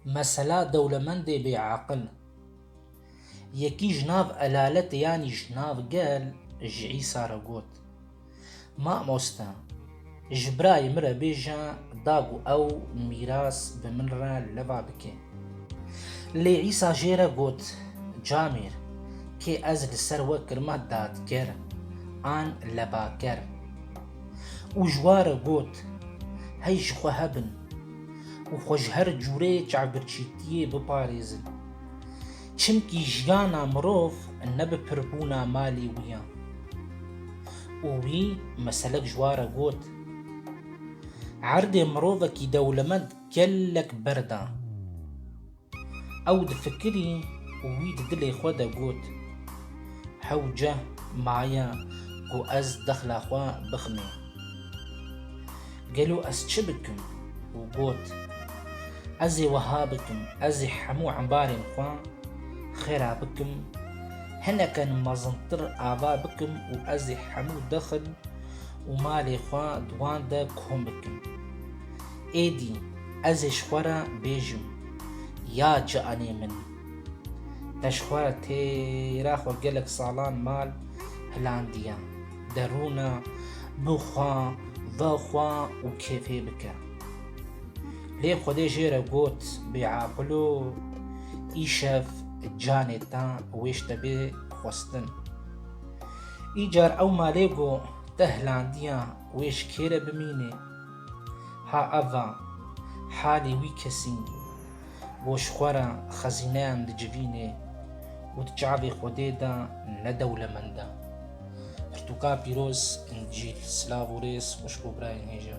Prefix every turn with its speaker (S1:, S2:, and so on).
S1: Mesela dewlemendê bêaqil. Yekî ji nav elaleti yanî ji nav gel ji Îsa re got, Mamoste, ji birayê min re bêje da ku ew mîras bi min re leva bike. Lê Îsa jê re got, Camêr, kê ez li ser we kirme dadger an lebaker? Û ji wa re got, Hey ji xwe hebin û xwe ji her cûreyê çagirçîtiyê biparêzin. Çimkî jiyana mirov ne bi pirbûna malê wî ye. Û wî meselek ji wa re got, Erdê mirovekî dewlemend gelek berda. Ew difikirî û wî di dilê xwe de got, Hew ceh maye ku ez dexla xwe bixmê. Gelo ez çi bikim? Û got, Ez ê wiha bikim, ez ê hemû embarên xwe xêra bikim, hineke mezintir ava bikim û ez ê hemû dexil û malê xwe di wan de kom bikim. Êdî ez ê ji xwe re bêjim, Ya cianê min! Peşxwe têra xwe gelek salan mal hilandiya, derûna bixwa, vexwa û kêfê bike. Lê Xwedê jê re got, Bêaqil o, îşev canê te wêşte bê xwestin. Îcar ew malê got, Te hilandiya wê ji kê re bimînê? Ha ava, halê wî kesî, goşxwera xezîneyan dicivînê û di çavê Xwedê de ne dewlemend e. Pirtûka pîroz, Încîl. Silav û rêz xwişk û birayên hêja.